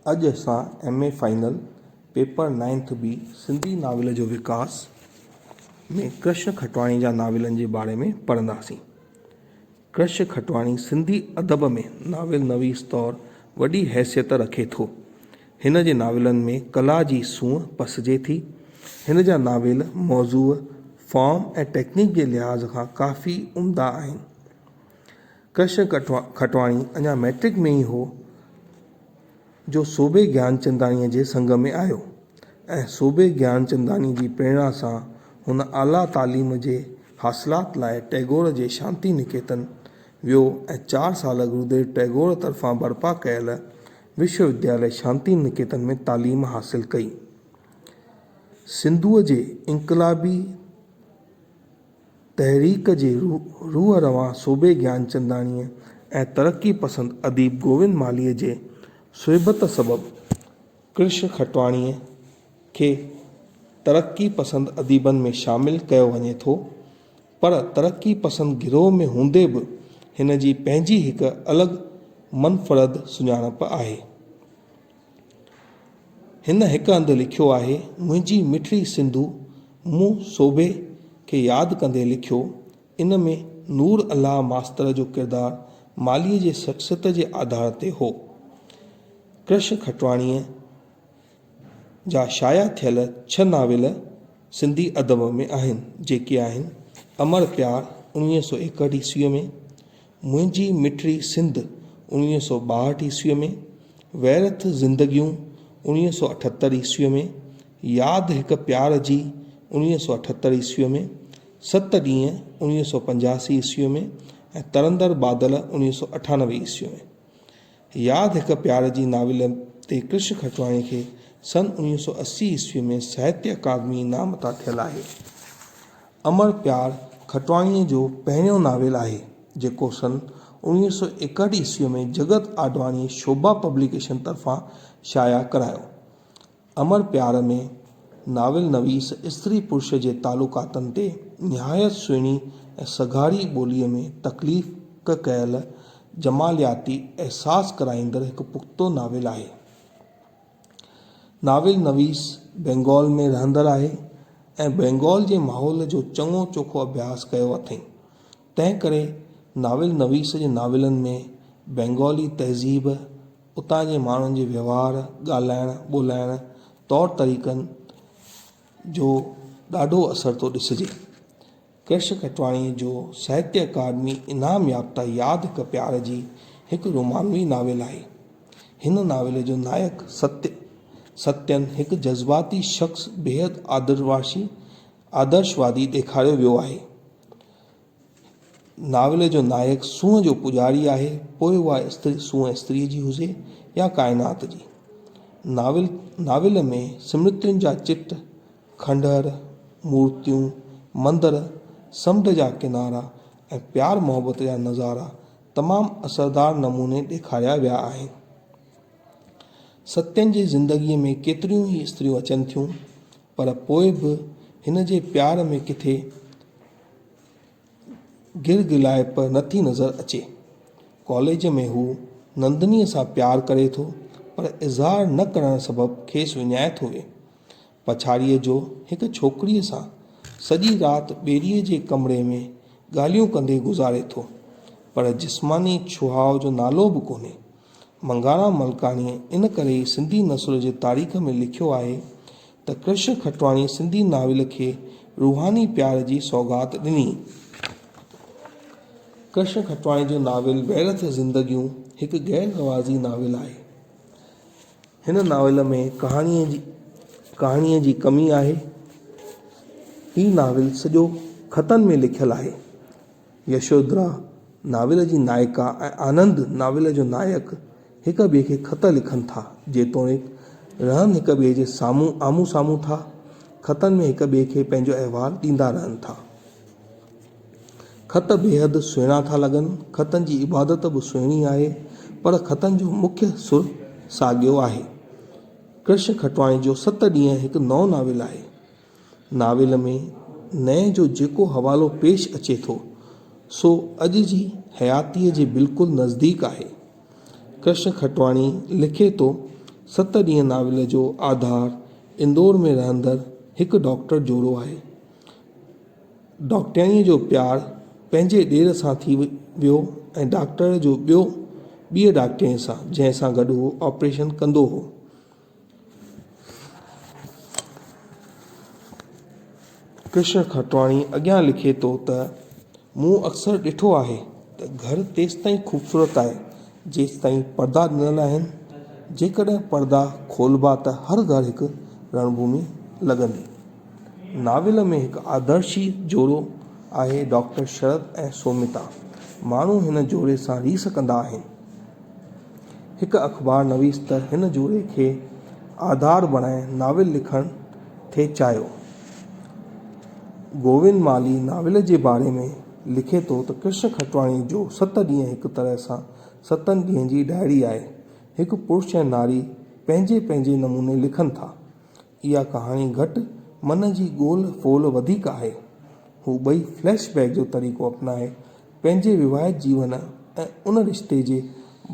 اڄ اسان M A final paper ninth B Sindhi novel جو وڪاس ۾ ڪرشن کٽواڻي جا ناولن جي باري ۾ پڙهنداسين. ڪرشن کٽواڻي سنڌي ادب ۾ ناول نويس طور وڏي حيثيت رکي ٿو. هن جي ناولن ۾ ڪلا جي سونهن پسجي ٿي. هن جا ناول موضوع، فارم ۽ ٽيڪنڪ جي لحاظ کان ڪافي عمدا آهن. ڪرشن کٽواڻي اڃا مئٽرڪ ۾ ئي هو جو صوڀي گيانچنداڻيء جي سنگ ۾ آيو ۽ صوڀي گيانچنداڻيء جي پريڻا سان هن اعليٰ تعليم جي حاصلات لاء ٽئگور جي شانتي نڪيتن ويو ۽ چار سال گروديو ٽئگور طرفان برپا ڪيل وشو وديالي شانتي نڪيتن ۾ تعليم حاصل ڪئي. سنڌوء جي انقلابي تحريڪ جي روح روان صوڀي گيانچنداڻيء ۽ ترقي پسند اديب گووند مالهيء جي صحبت سبب ڪرش کٽواڻيء کي ترقي پسند اديبن ۾ شامل ڪيو وڃي ٿو، پر ترقي پسند گروهه ۾ هوندي به هن جي پنهنجي هڪ الڳ منفرد سڃاڻپ آهي. هن هڪ هنڌ لکيو آهي، منهنجي مٺڙي سنڌو، مون سوڀي کي ياد ڪندي لکيو، ان ۾ نور الله ماستر جو ڪردار مالهيء جي شخصيت جي آڌار تي هو. ڪرشن کٽواڻيء جا شايع ٿيل ڇهه ناول سنڌي ادب ۾ آهن، جيڪي آهن، امڙ پيار، اڻويهه سؤ ايڪهٺ عيسويء ۾، منهنجي مٺڙي سنڌ، اڻويهه سؤ ٻاهٺ عيسويء ۾، ويرٿ زندگيون، اڻويهه سؤ اٺهتر عيسويء ۾، ياد هڪ پيار جي، اڻويهه سؤ اٺهتر عيسويء ۾، ست ڏينهن، اڻويهه سؤ پنجاسي عيسويء ۾، ۽ ترندڙ بادل، اڻويهه سؤ اٺانوي عيسويء ۾. ياد هڪ پيار جي ناول تي ڪرش کٽواڻي کي سن اڻويهه سؤ اسي عيسويء ۾ ساهتيه اڪادمي انعام عطا ٿيل آهي. امڙ پيار کٽواڻيء جو پهريون ناول آهي، جيڪو سن اوڻيهه سؤ ايڪهٺ عيسويء ۾ جڳت آڏواڻيء شوڀا پبليڪيشن طرفان شايع ڪرايو. امڙ پيار ۾ ناول نويس استري پرش جي تعلقاتن تي نهايت سهڻي ۽ سگهاري ٻوليء ۾ تخليق ڪيل جمالياتي احساس ڪرائيندڙ هڪ پختو ناول آهي. ناول نويس بينگال ۾ رهندڙ آهي ۽ بينگال جي ماحول جو چڱو چوکو اڀياس ڪيو اٿئين، تنهن ڪري ناول نويس جي ناولن ۾ بينگالي تهذيب، اتان جي ماڻهن جي وهنوار، ڳالهائڻ ٻولهائڻ، طور طريقن جو ڏاڍو اثر ٿو ڏسجي. ڪرش کٽواڻيء جو ساهتيه اڪاڊمي انعام يافته ياد هڪ پيار جي هڪ رومانوي ناول آهي. هن ناول جو نائڪ ستيه، Satyan، هڪ جذباتي شخص بيحد آدرواشي، آدرشوادي، ڏيکاريو ويو آهي. ناول جو نائڪ سونهن جو پوڄاري آهي، پوء اها استري سونهن استريء جي هجي يا ڪائنات جي. ناول ناول ۾ سمرتين جا چٽ، کنڊر، مورتيون، مندر، سمنڊ جا ڪنارا ۽ پيار محبت جا نظارا تمام اثردار نموني ڏيکاريا ويا آهن. ستين جي زندگيء ۾ ڪيتريون ئي استريون اچن ٿيون پر پوء به هن جي پيار ۾ ڪٿي گرگرلائپ نٿي نظر اچي. ڪاليج ۾ هو نندنيء سان پيار ڪري ٿو پر اظهار نه ڪرڻ سبب کيس وڃائي ٿو وي. پڇاڙيء جو هڪ ڇوڪريء سان سڄي رات ٻيڙيء جي ڪمري ۾ ڳالهيون ڪندي گذاري ٿو، پر جسماني ڇهاء جو نالو به ڪونهي. منگارا ملڪاڻيء ان ڪري ئي سنڌي نثر جي تاريخ ۾ لکيو آهي ته ڪرشن کٽواڻي سنڌي ناول کي روحاني پيار جي سوغات ڏني. ڪرشن کٽواڻي جو ناول ويرٿ زندگيون هڪ غير رواجي ناول آهي. هن ناول ۾ ڪهاڻيء جي ڪهاڻيء جي ڪمي آهي. هي ناول سڄو خطن ۾ لکيل آهي. يشودرا ناول جي نائڪا ۽ آنند ناول جو نائڪ هڪ ٻئي کي خط لکن ٿا جيتوڻيڪ رهن هڪ ٻئي جي سامهون آمهون سامهون ٿا خطن ۾ هڪ ٻئي کي پنهنجو احوال ڏيندا رهن ٿا. خط بيحد سهڻا ٿا لڳن. خطن جي عبادت به سهڻي آهي، پر خطن جو مکيه سر ساڳيو آهي. ڪرش کٽواڻي جو ست ڏينهن هڪ نئون ناول آهي. ناول ۾ نئين جو جيڪو حوالو پيش اچي ٿو، سو اڄ جي حياتيء جي بلڪل نزديڪ آهي. ڪرشن کٽواڻي لکي ٿو، ست ڏينهن ناول جو آڌار اندور ۾ رهندڙ هڪ ڊاڪٽر جوڙو آهي. ڊاڪٽرياڻيء جو پيار پنهنجي ڏير سان ٿي ويو ۽ ڊاڪٽر جو ٻيو ٻيء ڊاڪٽرياڻيء سان، جنهن سان گڏ هو آپريشن ڪندو هو. ڪرشن کٽواڻي اڳيان لکي ٿو ته، مون اڪثر ڏٺو آهي ته گهر تيستائين خوبصورت آهي، جيستائين پردا ڏنل آهن. جيڪڏهن پردا کولبا ته هر گهر هڪ رڻڀومي لڳندي. ناول ۾ هڪ آدرشي جوڙو آهي ڊاڪٽر شرت ۽ سوميتا. ماڻهو هن جوڙي سان ريس ڪندا آهن. هڪ اخبار نويس ته هن جوڙي کي آڌار بڻائي ناول لکڻ ٿي چاهيو. گووند مالهي ناول جي باري ۾ لکي ٿو ته ڪرشن کٽواڻي جو ست ڏينهن هڪ طرح سان ستن ڏينهن جي ڊائري آهي. هڪ پرش ۽ ناري پنهنجي پنهنجي نموني لکن ٿا. اها ڪهاڻي گهٽ من جي گول ڦول وڌيڪ آهي. هو ٻئي فليش بيڪ جو طريقو اپنائي پنهنجي وواهت جيون ۽ ان رشتي جي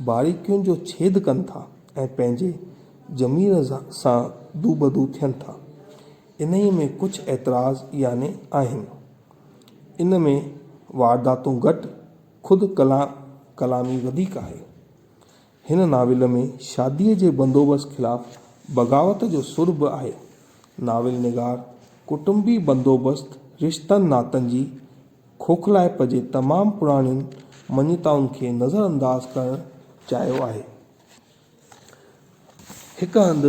باريڪين جو ڇيد ڪن ٿا ۽ پنهنجي ضمير سان دوبدو ٿين ٿا. انهيء ۾ ڪجهه اعتراض يعني آهن. ان ۾ وارداتون گهٽ خود ڪلام ڪلامي وڌيڪ آهي. هن ناول ۾ شاديء جي بندوبست خلاف بغاوت جو سر به آهي. ناول نگار ڪٽنبي بندوبست، رشتن ناتن جي کوکلائپ جي تمام پراڻين مڃتائن کي نظر انداز ڪرڻ چاهيو آهي. هڪ هنڌ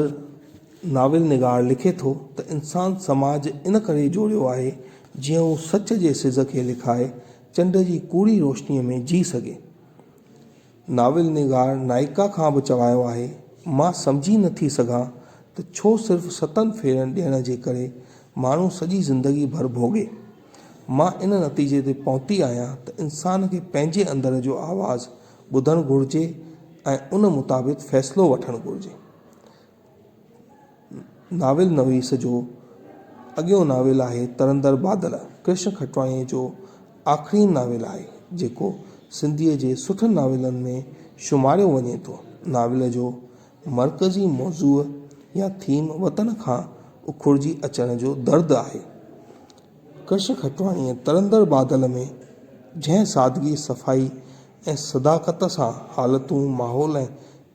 ناول نگار لکي ٿو ته انسان سماج ان ڪري جوڙيو آهي جيئن هو سچ جي سز کي لڪائي چنڊ جي ڪوڙي روشنيء ۾ جي سگهي. ناول نگار نائيڪا کان به چوايو آهي، مان سمجهي نه ٿي سگهان ته ڇو صرف ستن ڦيرن ڏيڻ جي ڪري ماڻهو سڄي زندگي ڀر ڀوڳي. مان ان نتيجي تي پهتي آهيان ته انسان کي پنهنجي اندر جو آواز ٻڌڻ گهرجي ۽ ان مطابق فيصلو وٺڻ گهرجي. ناول نويس جو اڳيون ناول آهي ترندر بادل ڪرشن کٽواڻيء جو آخرين ناول آهي، جيڪو سنڌيء جي سٺن ناولن ۾ شماريو وڃي ٿو. ناول جو مرڪزي موضوع يا ٿيم وطن کان اکڙجي اچڻ جو درد آهي. ڪرشن کٽواڻيء ترندر بادل ۾ جنهن سادگي، صفائي ۽ صداقت سان حالتون، ماحول ۽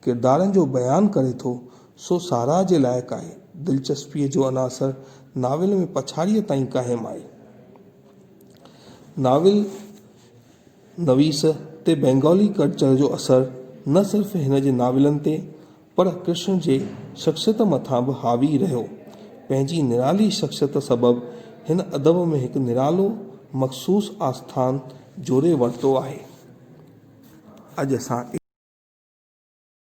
ڪردارن جو بيان ڪري ٿو، سو ساراهه جي لائق آهي. دلچسپيء جو عناصر ناول ۾ پڇاڙيء تائين قائم آهي. ناول نويس تي بينگالي ڪلچر جو اثر نه صرف هن جي ناولن تي، پر ڪرشن جي شخصيت مٿان به حاوي رهيو. پنهنجي نرالي شخصيت سبب هن ادب ۾ هڪ نرالو، مخصوص آسٿان، جوري ورتو آهي اڄ اسان.